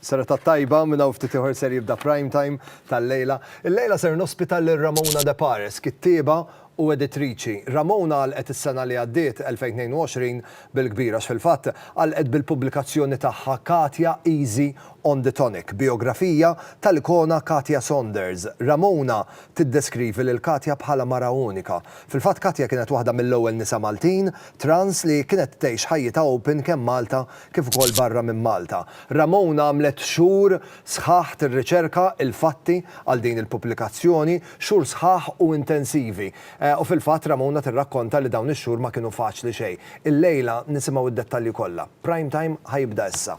Serata tajba, minn hawn ftit ieħor ser jibda Prime Time tal-lejla. Illejla ser nospita lil Ramona De Pares, kittieba u editriċi. Ramona għalqet is-sena li għaddiet, 2022, bil-kbir għax fil-fatt għalqet bil-pubblikazzjoni tagħha Katja Easy on the Tonic, bijografija tal-ikona Katja Saunders. Ramona tiddeskrivi lil Katja bħala mara unika. Fil-fatt Katja kienet waħda mill-ewwel nisa Maltin trans li kienet tgħix ħajjitha open kemm Malta kif ukoll barra minn Malta. Ramona għamlet xhur sħaħ tirriċerka l-fatti għal din il-pubblikazzjoni, xhur sħaħ u intensivi. U fil-fatt Ramona tirrakkonta li dawn ix-xhur ma kienu faċli xejn. Illejla nisimgħu d-dettalji kollha. Prime Time ħa jibda issa.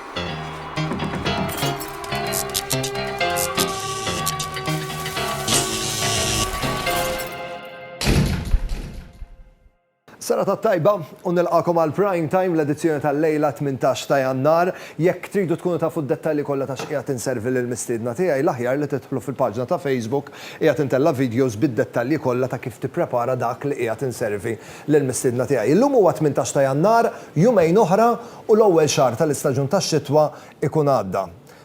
Sena ta' tajba u nilqakom għal Prime Time l-edizzjoni tal-lejla 18 ta' Jannar. Jekk tridu tkunu tafu d-dettalji kollha ta' x'qiegħed inservi lill-mistiedna tiegħi, l-aħjar li tidħlu fil-paġna ta' Facebook Qiegħed Intella' Videos bid-dettalji kollha ta' kif tipprepara dak li qiegħed inservi lill-mistiedna tiegħi. Illum huwa 18 ta' Jannar, jumejn oħra u l-ewwel xahar tal-istaġun tax-xitwa jkun għadda.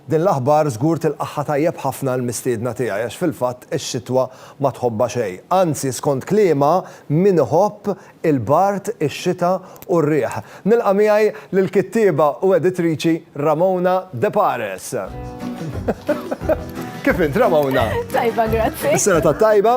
Din l-aħbar żgur tilqagħha tajjeb ħafna l-mistiedna tiegħi għax fil-fatt ix-xitwa ma tħobbha xejn. Anzi skont kliemha min iħobb il-bard, ix-xita u r-riħ. Nilqa' miegħi lill-kittieba u editriċi Ramona De Pares. Kif int Ramona? Tajba grazzi. Is-sena tat-tajba.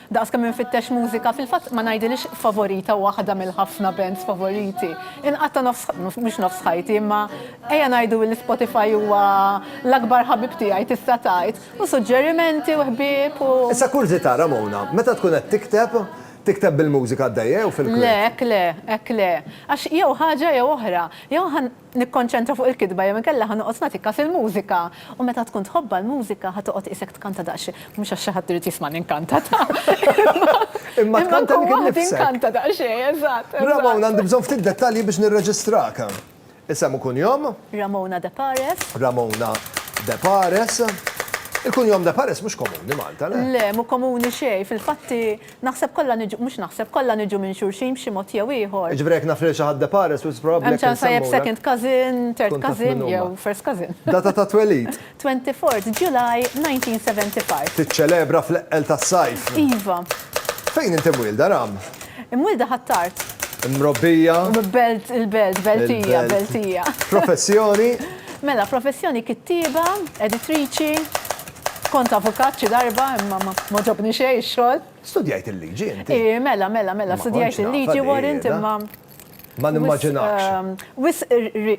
Daqs kemm infittex mużika, fil-fatt ma ngħidilhiex favorita waħda mill-ħafna bands favoriti. Inqatta' nofs, mhux nofs ħajti, imma ejja ngħidu li Spotify huwa l-akbar ħabib tiegħi tista' tgħid, u suġġerimenti u ħbieb u. Issa kurżità, Ramona, meta tkun qed tikteb, tikteb bil-mużika għaddejja jew fil-kwiet? Le, hekk le, hekk le. Għax jew ħaġa jew oħra. Jew nikkonċentra fuq il-kitba jew inkella ħa noqgħod nagħti kas il-mużika. U meta tkun tħobbha l-mużika ħa toqgħod qisek tkanta daqsxejn, mhux għax xi ħadd irid jismagħni nkanta ta', imma tkun waħdi inkanta daqsxejn, eżatt. Ramona, għandi bżonn ftit dettalji biex nirreġistrak. Isem u kunjom? Ramona De Pares. Ramona De Pares. Il-kunjom De Pares mhux komuni Malta, le? Le, mhu komuni xejn, fil-fatti Naħseb kollha niġu, mhux naħseb, kollha niġu minn xulxin b'xi mod jew ieħor. Jiġifieri jekk naf lil xi ħadd de par es u it's probabbli Hemm ċans tajjeb second cousin, third cousin jew first cousin. Data ta' twelid. Twenty fourth July nineteen seventy five. Tiċċelebra fl-eqqel tas-sajf. Iva. Fejn inti mwielda, Ram? Imwielda Ħ'Attard. Imrobbija? Belt, il-belt, Beltija, Beltija. Professjoni? Mela, professjoni kittieba, editriċi. Kont avukat xi darba imma m'għoġobni xejn ix-xogħol. Studjajt il-liġi inti? Ii, mela, mela, mela, studjajt il-liġi Warrant imma. Ma nimmaġinakx. Wisq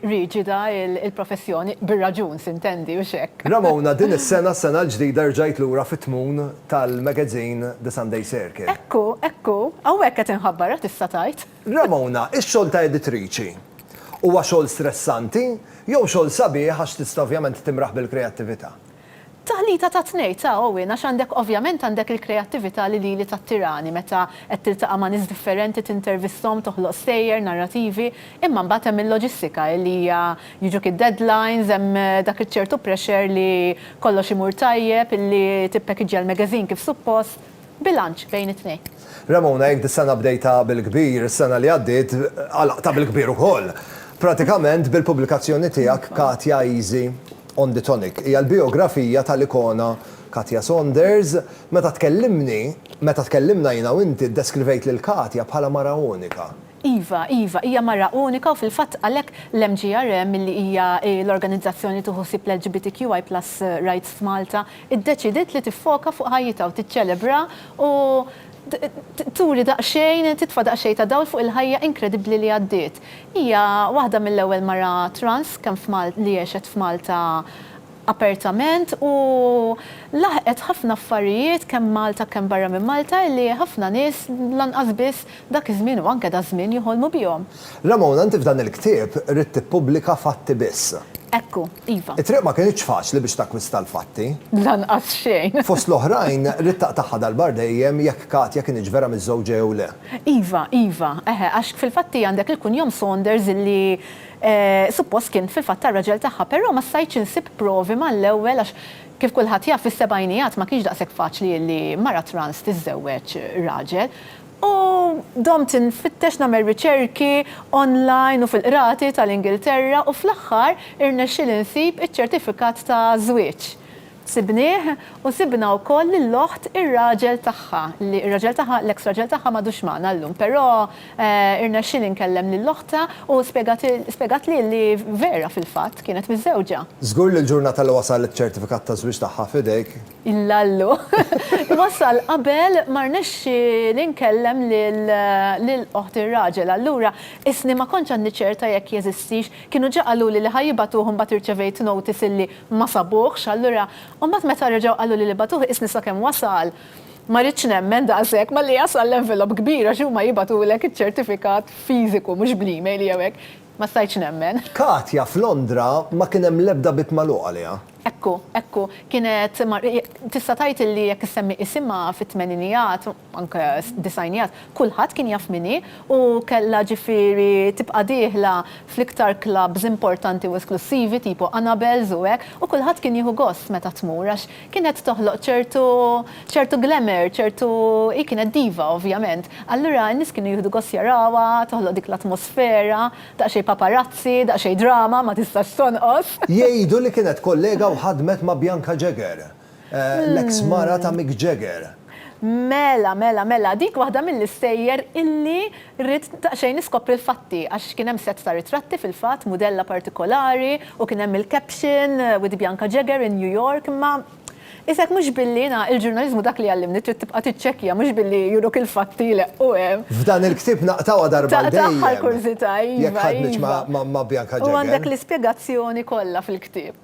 riġida l-professjoni, bir-raġun sintendi, hux hekk. Ramona, din is-sena, s-sena l-ġdida rġajt lura fit-tmun tal-magazin The Sunday Circle. Ekku, ekku, hawnhekk qed inħabbar ara tista' tgħid. Ramona, ix-xogħol ta' editriċi, huwa xogħol stressanti jew xogħol sabiħ għax tista' ovvjament timraħ bil-kreattività? Taħlita ta' tnejn, ta' Owen, għax għandek ovvjament għandek il-kreattività li lili tattirani meta qed tiltaqa' ma' nies differenti, tintervisthom, toħloq stejjer, narrativi, imma mbagħad hemm il-loġistika li hija jiġuk id-deadlines, hemm dak iċ-ċertu pressure li kollox imur tajjeb, li tippackagea l-magazine kif suppost. Bilanċ bejn it-tnejn. Ramona, jekk dis-sena bdejtha bil-kbir, is-sena li għaddiet għalaqtha bil-kbir ukoll. Pratikament bil-pubblikazzjoni tiegħek Katja Easy on the Tonic. Hija l-bijografija tal-ikona Katja Saunders. Meta tkellimni, meta tkellimna jiena u inti, ddeskrivejt lil Katja bħala mara unika. Iva, iva, hija mara unika u fil-fatt għalhekk l-MGRM milli hija l-organizzazzjoni li tieħu ħsieb l-LGBTQI plus rights f'Malta iddeċidiet li tiffoka fuq ħajjitha u tiċċelebra u turi daqsxejn, titfa' daqsxejn ta' dawl fuq il-ħajja inkredibbli li għaddiet. Hija waħda mill-ewwel mara trans kemm li għexet f'Malta. apertament u laħqet ħafna affarijiet kemm Malta kemm barra minn Malta li ħafna nies lanqas biss dak iż-żmien u anke daż-żmien joħolmu bihom. Ramona, inti f'dan il-ktieb ridt tippubblika fatti biss. Ekku, iva. It-triq ma kinitx faċli biex takkwista l-fatti. Lanqas xejn. Fost l-oħrajn, ridt taqtagħha darba għal dejjem jekk Katja kinitx vera miżżewġa jew le. Iva, iva. Eħe, għax fil-fatti għandek il-kunjom Saunders li Suppost kien fil-fatt tar-raġel tagħha, però ma stajtx insib provi mal-ewwel għax kif kulħadd jaf fis-sebgħinijat ma kienx daqshekk faċli li mara trans tiżżewweġ raġel u domt infittex nagħmel riċerki online u fil-qrati tal-Ingilterra u fl-aħħar irnexxieli nsib iċ-ċertifikat ta' żwieġ Sibnieh u sibna wkoll lill-oħt ir-raġel tagħha, li r-raġel tagħha, l-eks raġel tagħha m'għadux magħna llum, però rnexxieli nkellem lil oħtha u spjegatli li vera fil-fatt kienet miżżewġa. Żgur li l-ġurnata li wasal iċ-ċertifikat taż-żwieġ tagħha f'idejk. Illallu! Wasal qabel ma rnexxieli nkellem lil oħt ir-raġel, allura qisni ma kontx għadni ċerta jekk jeżistix Kienu ġa qaluli li ħa jibagħtuh imbagħad irċevejt notice illi ma sabuhx, allura imbagħad meta reġgħu qaluli li bagħtuh qisni sakemm wasal ma ridtx nemmen daqshekk malli jasal l-envelope kbir għax huma jibagħtulek iċ-ċertifikat fiżiku mhux bl-email jew hekk. Ma stajtx nemmen. Katja f'Londra ma kien hemm l-ebda bieb magħluq għaliha. Ekku, ekku. Kienet mar. Tista' tgħid illi jekk issemmi isimha fit-tmeninijat anke disgħinijat, kulħadd kien jaf min hi u kellha ġifieri tibqa' dieħla fl-iktar klabbs importanti u esklussivi tipo Annabelle's u hekk u kulħadd kien jieħu gost meta tmur għax kienet toħloq ċertu ċertu glamour, ċertu hi kienet diva ovvjament. Allura n-nies kienu jieħdu gost jarawha, toħloq dik l-atmosfera, daqsxejn paparazzi, daqsxejn drama ma tistax tonqos. Jgħidu li kienet kollega u ħadmet ma' Bianca Jagger. L-eks mara ta' Mick Jagger. Mela, mela, mela, dik waħda mill-istejjer illi rrid daqsxejn niskopri l-fatti għax kien hemm sett ta' ritratti fil-fatt, mudella partikolari u kien hemm il-caption with Bianca Jagger in New York imma isek mhux billi na, il-ġurnaliżmu dak li jgħallimni trid tibqa' tiċċekkja mhux billi juruk il-fatti jleqqu hemm. F'dan il-ktieb naqtgħuha darba għal dejjem. Taqtagħha l-kurżità, iva, iva. Jekk ħadmitx ma' Bianca Jagger. U għandek l-ispjegazzjoni kollha fil-ktieb.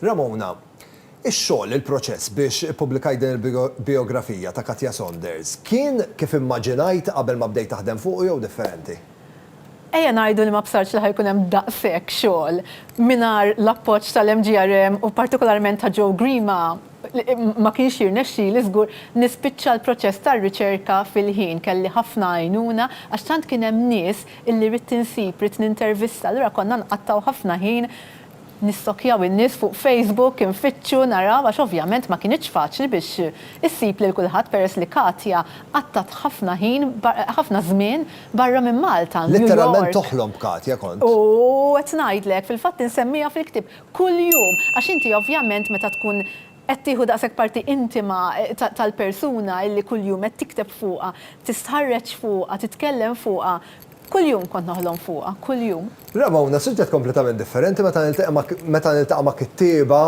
Ramona, Ix-xogħol, il-proċess biex ippubblikajt din il-bijografija ta' Katja Saunders kien kif immaġinajt qabel ma bdejt taħdem fuqu jew differenti? Ejja ngħidu li ma bsartx li ħa jkun hemm daqshekk xogħol. Mingħajr l-appoġġ tal-MGRM u partikolarment ta' Joe Grima ma kienx jirnexxieli żgur nispiċċa l-proċess tar-riċerka fil-ħin. Kelli ħafna għajnuna għax tant kien hemm nies illi ridt insib, ridt nintervista, allura konna nqattgħu ħafna ħin Nistokjaw in-nies fuq Facebook, infittxu, naraw għax ovvjament ma kinitx faċli biex issib lil kulħadd peress li Katia qattat ħafna ħin ħafna żmien barra minn Malta, New York. Litteralment toħlom b'Katia kont. U qed ngħidlek, fil-fatt insemmiha fil-ktieb kuljum għax inti ovvjament meta tkun qed tieħu daqshekk parti intima tal-persuna illi kuljum qed tikteb fuqha, tistħarreġ fuqha, titkellem fuqha, Kuljum kont noħlom fuqha, kuljum. Raba' Una, suġġett kompletament differenti, meta nilteqa' ma' meta niltaqa' ma' kittieba,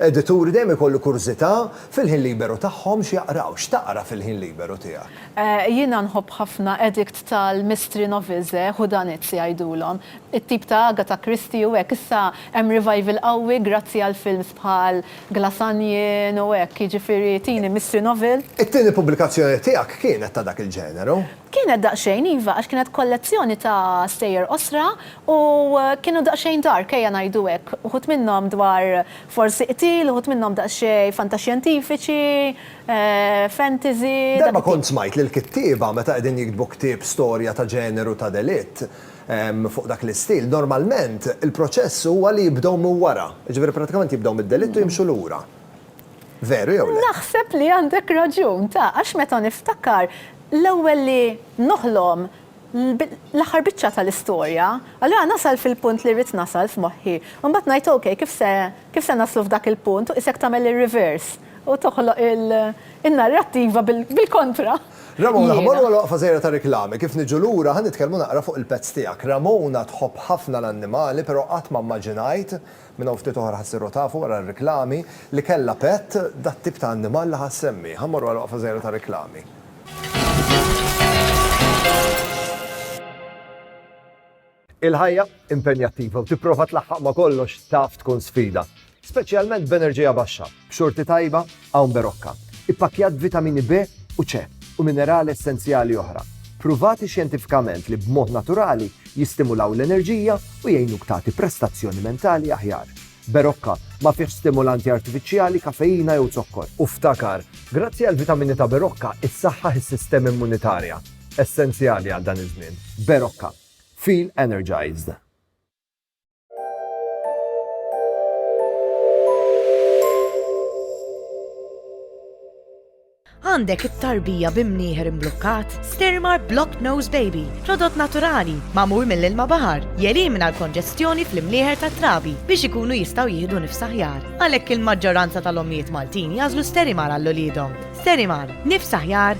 edituri, dejjem ikollu kurżità, fil-ħin liberu tagħhom x'jaqraw? X'taqra fil-ħin liberu tiegħek? Jiena nħobb ħafna Edict tal-Mystery Novels, whodunits jgħidulhom, it-tip ta' Agatha Christie u hekk. Issa hemm revival qawwi grazzi għal films bħal Glass Onion u hekk, jiġifieri tieni mystery novel. It-tieni pubblikazzjoni tiegħek kienet ta' dak il-ġeneru? Kienet daqsxejn, iva, għax kienet kollezzjoni ta' stejjer qosra u kienu daqsxejn dark, ejja ngħidu hekk. Uħud minnhom dwar forsi qtil, uħud minnhom daqsxejn fantaxjentifiċi, fantasy, dak it-tip. Darba kont smajt li l-kittieba meta qegħdin jiktbu ktieb storja ta' ġeneru ta' delitt, fuq dak l-istil, normalment il-proċess huwa li jibdew minn wara, jiġifieri prattikament jibdew mid-delitt u jimxu lura. Veru jew le? Naħseb li għandek raġun, ta, għax meta niftakar, l-ewwel li noħlom l-aħħar biċċa tal-istorja, allura nasal fil-punt li rrid nasal f'moħħi. U mbagħad ngħid ok, kif se, kif se naslu f'dak il-punt u qisek tagħmel ir-reverse u toħloq in-narrattiva bil-kontra. Ramona, ħa morru għal waqfa żgħira ta' riklami, kif niġu lura ħa nitkellmu naqra fuq il-pets tiegħek. Ramona tħobb ħafna l-annimali, però qatt ma mmaġinajt Minn hawn ftit oħra ħa ssiru tafu, wara r-riklami, li kellha pett, dat-tip ta' annimal li ħa ssemmi. Ħa mmorru għal waqfa żgħira ta' riklami. Il-ħajja impenjattiva u tipprova tlaħħaq ma' kollox taf tkun sfida, speċjalment b'enerġija baxxa, b'xorti tajba Hawn Berocca, ippakkjat b'vitamini B u C u minerali essenzjali oħra, pruvati xjentifikament li b'mod naturali jistimulaw l-enerġija u jgħinuk tagħti prestazzjoni mentali aħjar. Berocca ma fihx stimulanti artifiċjali, kafeina jew zokkor. U ftakar, grazzi għall-vitamini ta' Berocca issaħħaħ is-sistema immunitarja, essenzjali għal dan iż-żmien. Berocca. Feel energized. Għandek it-tarbija bi mnieħer imblukkat? Stirmar Blocked Nose Baby, prodott naturali, magħmul mill-ilma baħar, jelimina l-konġestjoni fl-imnieħer tat-trabi biex ikunu jistgħu jieħdu nifs aħjar. Għalhekk il-maġġoranza tal-ommijiet Maltin jagħżlu Sterimar għal uliedhom. Sterimar, nifs aħjar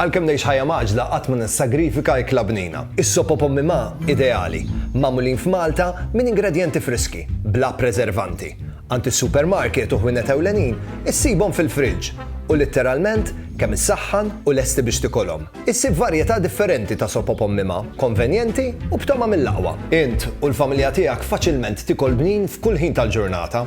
Għalkemm ngħix ħajja mgħaġġla qatt ma nissagrifika ikla bnina. Is-sop o pommi ma, ideali, magħmulin f'Malta minn ingredjenti friski, bla preservanti. Għand is-supermarket u ħwienet ewlenin issibhom fil-friġġ u litteralment kemm issaħħan u lesti biex tikolhom. Issib varjetà differenti ta' sop o pommi ma, konvenjenti u b'togħma mill-aqwa. Int u l-familja tiegħek faċilment tikol bnin f'kull ħin tal-ġurnata.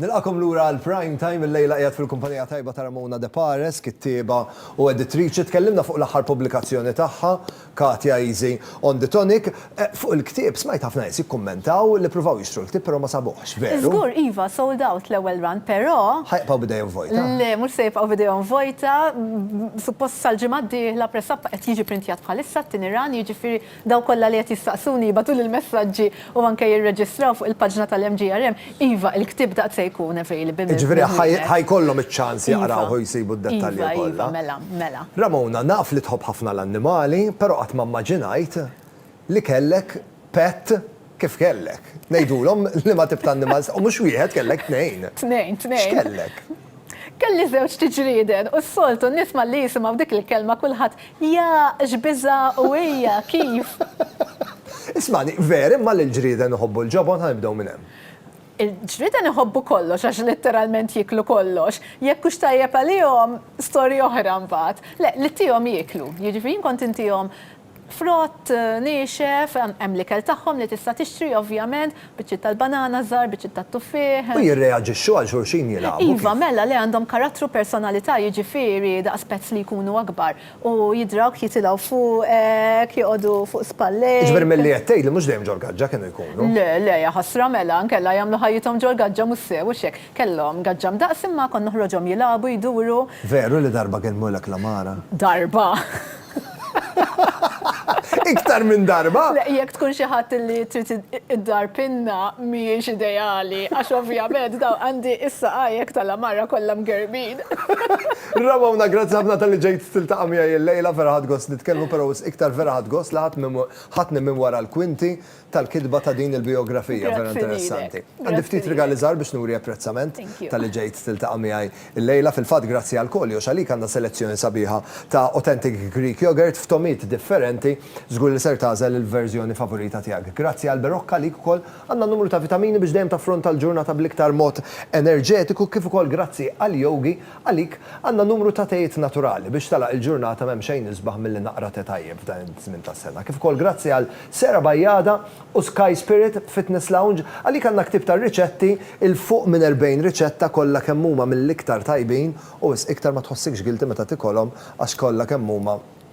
Nilqagħkom lura għal Prime Time, illejla qiegħed fil-kumpanija tajba ta' Ramona De Pares, kittieba u editriċi. Tkellimna fuq l-aħħar pubblikazzjoni tagħha, Katia Easy on the Tonic. Fuq il-ktieb, smajt ħafna nies jikkummentaw li ppruvaw jixtru l-ktieb però ma sabuhx, veru? Żgur, iva, sold out l-ewwel run, però. Ħa jibqgħu b'idejhom vojta? Le, mhux se jibqgħu b'idejhom vojta. Suppost sal-ġimgħa d-dieħla press up qed jiġi pprintjat bħalissa t-tieni run, jiġifieri Dawk kollha li qed jistaqsuni jibgħatuli l-messaġġi u anke jirreġistraw fuq il-paġna tal-MGRM, iva, il-ktieb daqt se jkun available. Jiġifieri ħa ħa jkollhom iċ-ċans jaqrawh u jsibu d-dettalji kollha. Iva, iva, mela, mela. Ramona, naf li tħobb ħafna l-annimali, però qatt ma mmaġinajt li kellek pet Kif kellek? Ngħidulhom liema tip ta' annimal se. U mhux wieħed, kellek tnejn. Tnejn, tnejn. X'kellek? Kelli żewġ tiġrieden u s-soltu n-nies malli jisimgħu dik il-kelma kulħadd, Jaaaq, x'biża' u ejja, kif? Ismagħni, ver imma li l-ġrieden iħobbu l-ġobon? Ħa nibdew minn hemm. Il-ġrieden iħobbu kollox għax litteralment jieklu kollox. Jekk hux tajjeb għalihom, storja oħra mbagħad. Le, li ttihom jieklu. Jiġifieri jien kont intihom Frott niexef, hemm l-ikel tagħhom li tista' tixtri ovvjament, biċċiet tal-banana żgħar, biċċiet tat-tuffieħ. U jirreaġixxu għal xulxin jilagħbu kif? Iva, mela le għandhom karattru personalità jiġifieri daqs pezz li jkunu akbar u jidrawk jitilgħu fuqek, joqogħdu fuq spallejk. Jiġifieri milli qed tgħidli mhux dejjem ġol-gaġġa kienu jkunu? Le, le, jaħasra mela, inkella jagħmlu ħajjithom ġol-gaġġa mhux sew, hux hekk? Kellhom gaġġa mdaqqs imma kont noħroġhom jilagħbu, jduru. Veru li darba kelmu l-akla mara? Darba! Iktar minn darba! Le, jekk tkun xi ħadd li trid id-dar pinna mhijiex ideali għax ovvjament dawn għandi is-saqajek tal-għamara kollha mgerrbin. Ramona, grazzi ħafna talli ġejt tiltaqa' miegħi llejla, vera ħadt gost nitkellmu, però wisq iktar vera ħadt gost li ħadtni minn wara l-kwinti. tal-kitba ta' din il-bijografija vera interessanti. Għandi ftit rigali żgħar biex nuri apprezzament talli ġejt tiltaqa' miegħi llejla. Fil-fatt grazzi għal Koljox għalik għandna selezzjoni sabiħa ta' authentic Greek yogurt f'togħmiet differenti. Żgur li ser tagħżel il-verżjoni favorita tiegħek. Grazzi għal Berocca għalik ukoll għandna numru ta' vitamini biex dejjem taffronta l-ġurnata bl-iktar mod enerġetiku kif ukoll grazzi għal Yogi Għalik, għandna numru ta' tejiet naturali biex tagħlaq il-ġurnata m'hemm xejn isbaħ milli naqra te tajjeb f'dan iż-żmien tas-sena. Kif ukoll grazzi għal Sera Bajada u Sky Spirit Fitness Lounge, għalik għandna ktieb ta' riċetti, 'il fuq minn 40 riċetta kollha kemm huma mill-iktar tajbin u wisq iktar ma tħossikx guilty meta tikolhom għax kollha kemm huma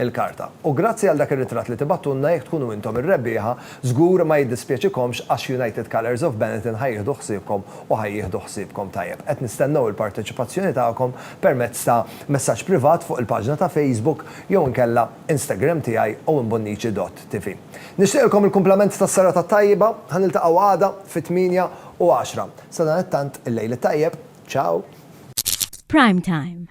il-karta. U grazzi għal dak ir-ritratt li tibgħattulna jekk tkunu intom ir-rebbieħa żgur ma jiddispjaċikomx għax United Colours of Benetton ħa jieħdu ħsiebkom u ħa jieħdu ħsiebkom tajjeb. Qed nistennew il-parteċipazzjoni tagħkom permezz ta' messaġġ privat fuq il-paġna ta' Facebook jew inkella Instagram tiegħi owenbonnici.tv. Nixtieqilkom il-kumplament tas-serata t-tajba, ħa niltaqgħu għada fit-tmienja u għaxra. Sadanittant il-lejl it-tajjeb. Ciao! Prime Time.